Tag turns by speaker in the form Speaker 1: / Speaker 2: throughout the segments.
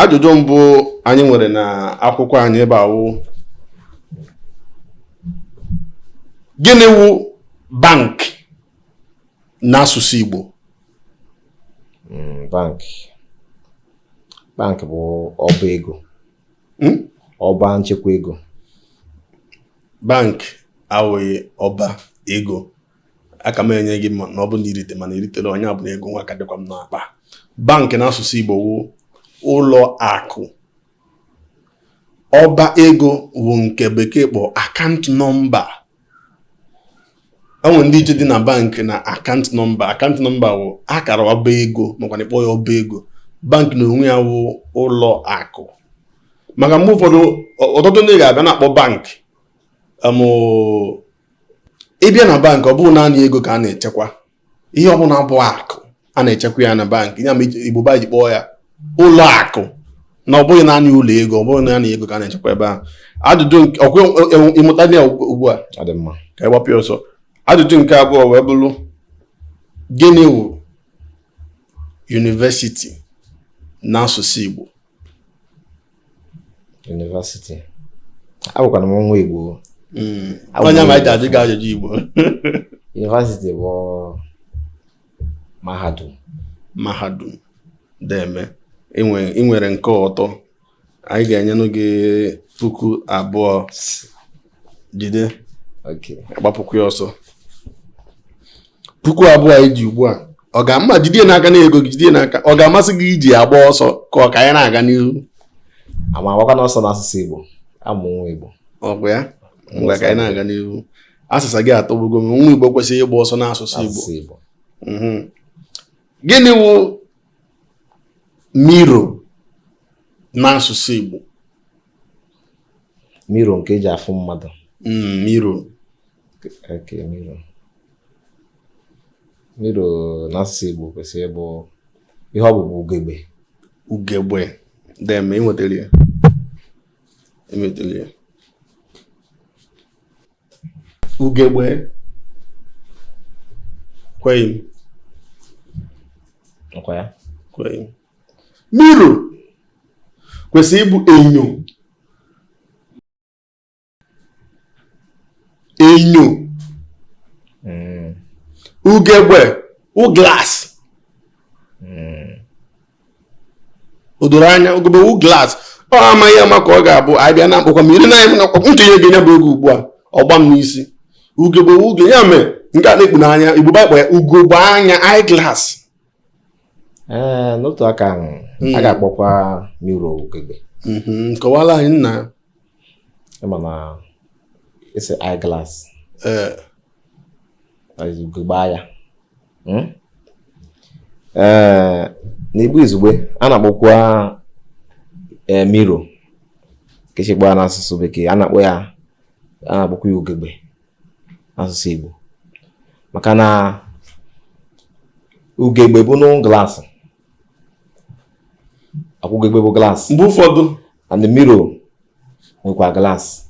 Speaker 1: ajụjụ mbụ anyị nwere na akwụkwọ anyị ebe a wụ gịnị wụ bank n'asụsụ Igbo
Speaker 2: hmm, bank bank bụ ọba ego hmm? ọba nchekwa ego
Speaker 1: bank awụghị ọba ego aka m enye gị ma na ọ bụ na irite mana iritero nya bụ na ego nwa ka dịkwa m n'akpa bank n'asụsụ Igbo wụ ụlọ akụ ọba ego wụ nke bekee kpọ account number enwere ndị iche dị na bank na account number account number wụ akara ọba ego makwa na ịkpọ ya ọba ego bank na onwe ya wụ ụlọ akụ maka mgbe ụfọdụ ọtụtụ ndị ga-abịa na-akpọ bank ịbịa na bank ọ bụghị naanị ego ka a na-echekwa ihe ọ bụla bụ akụ a na-echekwa ya na bank ya mere Igbo ba ji kpọọ ya ụlọ akụ na ọ bụghị naanị ụlọ ego ọ bụghị naanị ego ka a na-echekwa ebe ahụ ajụjụ ọkwa ịmụta ya ugbu a ka ị gbapụ ọsọ ajụjụ nke abụọ wee bụrụ gịnị wụ university n'asụsụ Igbo
Speaker 2: university abụkwanụ m nwa Igbo hmm.
Speaker 1: onye ma ajụ gị ajụjụ Igbo
Speaker 2: university bụ mahadum
Speaker 1: mahadum deeme ị nwere nke ọtọ anyị ga-enyenụ gị puku abụọ jide
Speaker 2: agbapụkwana ọsọ
Speaker 1: puku abụọ a i ji ugbu a ọ ga-ama jide n'aka na ego gị jide n'aka ọ ga-amasị gị iji ya gbaa ọsọ ka ọ ka anyị na-aga n'ihu ama m
Speaker 2: agbakwanụ ọsọ n'asụsụ Igbo abụ m nwa Igbo ọ bụ ya
Speaker 1: ngwa ka anyị na-aga n'ihu asịsa gị atọgbugo m nwa Igbo ekwesịghị ịgba ọsọ n'asụsụ Igbo mhm. gịnị wụ mirror n'asụsụ Igbo
Speaker 2: mirror nke eji afụ mmadụ mm, mirror okay, mirror mirror n'asụsụ Igbo kwesịrị ịbụ ihe ọ bụ bụ ugegbe ugegbe
Speaker 1: deeme enwetara ya enwetara ya ugegbe ekweghị m
Speaker 2: ọkwa ya ekweghị m
Speaker 1: mirror kwesịrị ịbụ enyo enyo hmm. ugegbe wụ glass hmm. o doro anya ugegbe wụ glass ọ amaghị m ka ọ ga-abụ anyị bịa na mkpọkwa mmiri na anyị mkpọkwa ntụnye gị nya bụ ego ugbu a ọgba m n'isi ugegbe uge ya mee nke a na-ekpu n'anya Igbo ba kpọ ya ugogbe anya eye glass
Speaker 2: ee n'otu aka ahụ a ga-akpọkwa miro ugegbe kọwala
Speaker 1: anyị nna ị
Speaker 2: ma na ị sị eyeglass ugegbe anya ee n'igbo izugbe a na-akpọkwa miro ka e si akpọ ya n'asụsụ bekee a na-akpọ ya a na-akpọkwa ya ugegbe asụsụ Igbo maka na ugegbe bụnụ glaasị ọkwa ugegbe bụ glaasị mgbe ụfọdụ and
Speaker 1: the mirror
Speaker 2: nwekwa glaasị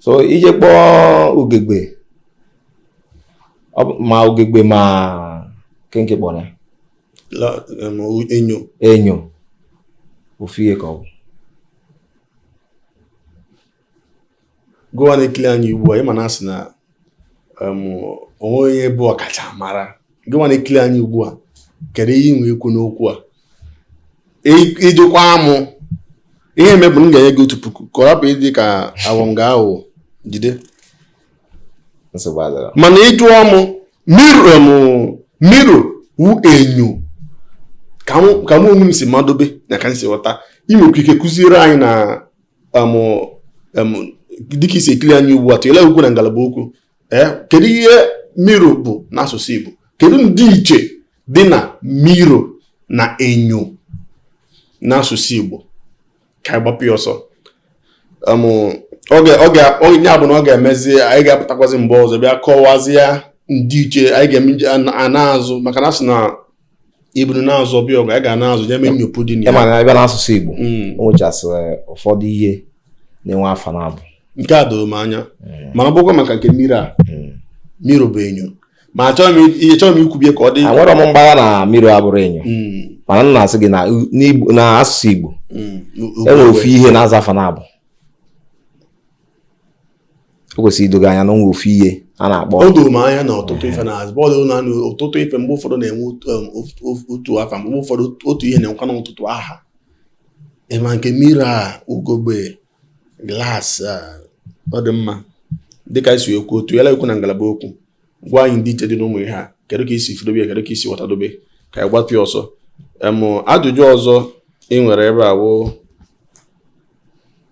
Speaker 2: so i je kpọọ ugegbe ma ugegbe ma kenke kpọrọ ya enyo
Speaker 1: enyo
Speaker 2: ofu ihe ka ọ bụ
Speaker 1: gịwa na-ekili anyị ugbu a ị ma na a sị na o nwe onye bụ ọkachamara gịwa na-ekili anyị ugbu a kedu ihe i nwe ikwu n'okwu a i jikwa amụ ihe mebụ m ga-enye gị otu puku ka ọ rapụ ịdị ka awọ nga ahụ jide mana ị jụọ mụ miro wụ enyo ka mụ onwe m si madobe na ka m si ghọta i nwekwa ike kụziere anyị na dịka i si ekili anyị ugbu a tụnyere okwu na ngalaba okwu ee kedu ihe miro bụ n'asụsụ Igbo kedu ndịiche dị na miro na enyo n'asụsụ Igbo ka anyị gbapụ ya ọsọ onye abụ na ọ ga-emezi anyị ga-apụtakwazi mgbe ọzọ bịa kọwazie ndịiche anyị ga-eme a na-azụ maka na a sị na iburu na-azụ ọbịa ọgụ a ga na-azụ ya mee nyopu dị na ya mana a bịa n'asụsụ
Speaker 2: Igbo hmm. o nwechasịrị ụfọdụ ihe na-enwe afa naabọ nke a doro m anya
Speaker 1: hmm. mana ọ bụkwa maka nke miro a hmm. miro
Speaker 2: bụ enyo ma achọghị
Speaker 1: m ikwubi ya
Speaker 2: ka ọ
Speaker 1: dị enwerọ
Speaker 2: m
Speaker 1: mgbagha na
Speaker 2: miro
Speaker 1: abụrọ enyo
Speaker 2: mana m na-asị gị n'asụsụ Igbo e nwere ofu ihe na-aza afa naabọ o kwesịrị ido gị anya na o nwe ofu ihe a na-akpọ o doro m anya na
Speaker 1: ọtụtụ ife na-aza bọọlụ na ọtụtụ ife mgbe ụfọdụ na-enwe um, otu afa mgbe ụfọdụ otu ihe na-enwekwanụ ọtụtụ aha ị ma nke miro a ugogbe glaasị ọ dị mma dịka i si ekwu tụnye okwu na ngalaba okwu gwa anyị ndịiche dị n'ụmụ ihe a kedu ka i si fụdobe ya kedu ka i si ghọtadobe ka anyị gbapụ ya ọsọ ajụjụ ọzọ i nwere ebe a wụ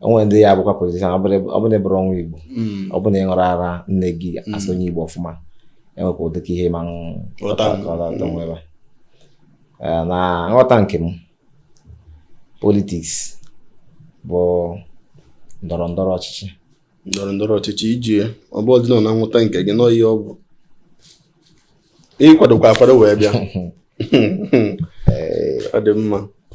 Speaker 2: o nwere ndị ya bụkwa politishan ọ bụrụ na ị bụrụ nwa igbo hmm. ọ bụrụ na ị ṅụrụ ara nne gị hmm. asị onye igbo ọfụma enwekwa ụdị ka ihe ma nwebe eh, na nghọta nke m politiks bụ ndọrọ ndọrọ ọchịchị ndọrọ ndọrọ ọchịchị iji ya ọ bụ ọdịnala na nghọta nke gị nọọ ihe ọ bụ ị kwadokwa akwado wee bịa eh. ọ dị mma